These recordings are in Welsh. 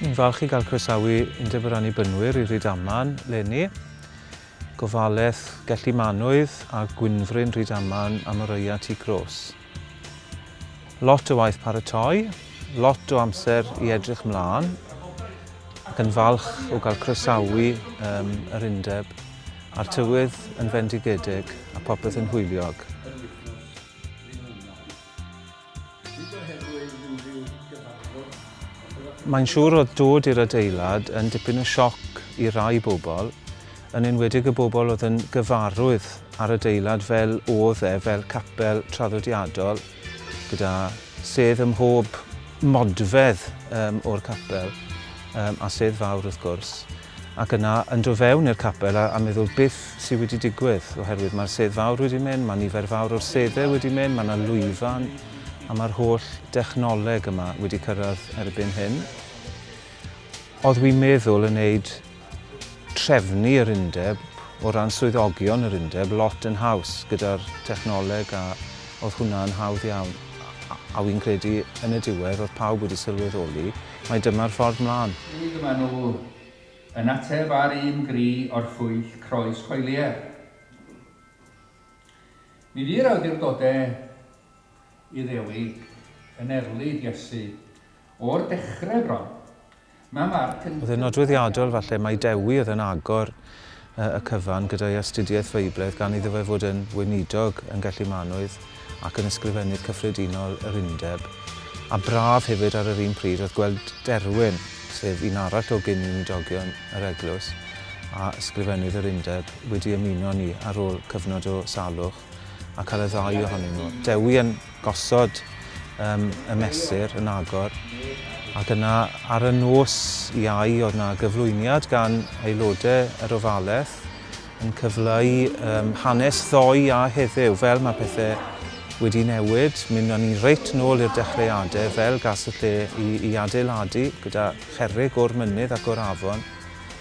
Ni'n falch i gael croesawu Undeb yr Annibynwyr i Rydaman, Lenny. Gofaleth Gelli Manwydd a Gwynfryn Rydaman am Oreuat i Gros. Lot o waith paratoi, lot o amser i edrych mlân ac yn falch o gael croesawu um, yr undeb a'r tywydd yn fendigedig a popeth yn hwyliog. Mae'n siŵr oedd dod i'r adeilad yn dipyn o sioc i rai bobl, yn enwedig y bobl oedd yn gyfarwydd â'r adeilad fel oedd e, fel capel traddodiadol, gyda sedd ym mhob modfedd um, o'r capel, um, a sedd fawr wrth gwrs, ac yna yn dod fewn i'r capel a, a meddwl beth sydd wedi digwydd, oherwydd mae'r sedd fawr wedi mynd, mae nifer fawr o'r seddau wedi mynd, mae yna lwyfan, a mae'r holl dechnoleg yma wedi cyrraedd erbyn hyn. Oedd wi'n meddwl yn wneud trefnu yr undeb o ran swyddogion yr undeb lot yn haws gyda'r technoleg a oedd hwnna yn hawdd iawn a, a wy'n credu yn y diwedd oedd pawb wedi sylweddoli mae dyma'r ffordd mlaen. Hyd yma nhw yn ateb ar un gri o'r llwyll croes coelier. Mi fu'r awdurdodau Iddewig yn erlid Iesu o'r dechrau bron, Oedd e'n nodweddiadol falle mai Dewi oedd yn agor y cyfan gyda'i astudiaeth Feiblaidd gan iddo fe fod yn weinidog, yn Gellimanwydd ac yn Ysgrifennydd Cyffredinol yr Undeb. A braf hefyd ar yr un pryd oedd gweld Derwyn, sef un arall o gyn-weinidogion yr Eglwys a Ysgrifennydd yr Undeb, wedi ymuno â ni ar ôl cyfnod o salwch. ac ar y ddau ohonyn nhw. Dewi yn gosod um, y mesur yn agor ac yna ar y nos iau oedd yna gyflwyniad gan aelodau yr ofalaeth yn cyfleu um, hanes ddoi a heddiw fel mae pethau wedi newid. Mynda ni reit nôl i'r dechreuadau fel gas y lle i, i adeiladu gyda cherrig o'r mynydd ac o'r afon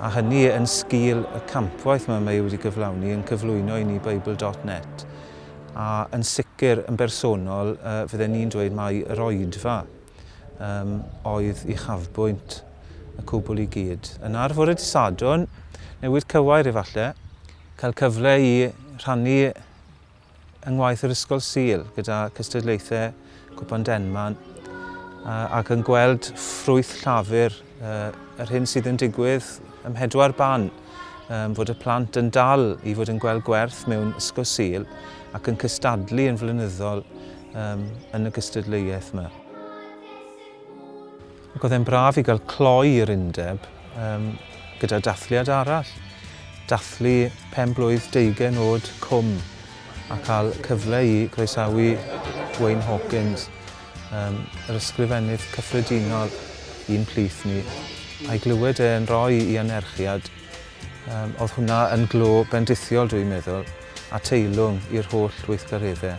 a hynny yn sgil y campwaith mae mae wedi gyflawni yn cyflwyno i ni Bible dot net, a yn sicr yn bersonol yy fydden ni'n dweud mai yr oedfa yym oedd uchafbwynt y cwbl i gyd. Yna ar fore dydd Sadwrn, newydd cywair efalle, cael cyfle i rhannu yng ngwaith yr Ysgol Sul gyda cystadlaethau Cwpan Denman ac yn gweld ffrwyth llafur yr hyn sydd yn digwydd ym Mhedwar Ban fod y plant yn dal i fod yn gweld gwerth mewn Ysgol Sul ac yn cystadlu yn flynyddol yn y gystadleuaeth yma. Ac oedd e'n braf i gael cloi i'r undeb um, gyda dathliad arall. Dathlu pen blwydd deugen oed cwm a cael cyfle i groesawu Wayne Hawkins, um, yr ysgrifennydd cyffredinol i'n plith ni, a'i glywed e'n rhoi i anerchiad Yym, oedd hwnna yn glo bendithiol, dwi'n meddwl, a teilwng i'r holl weithgareddau.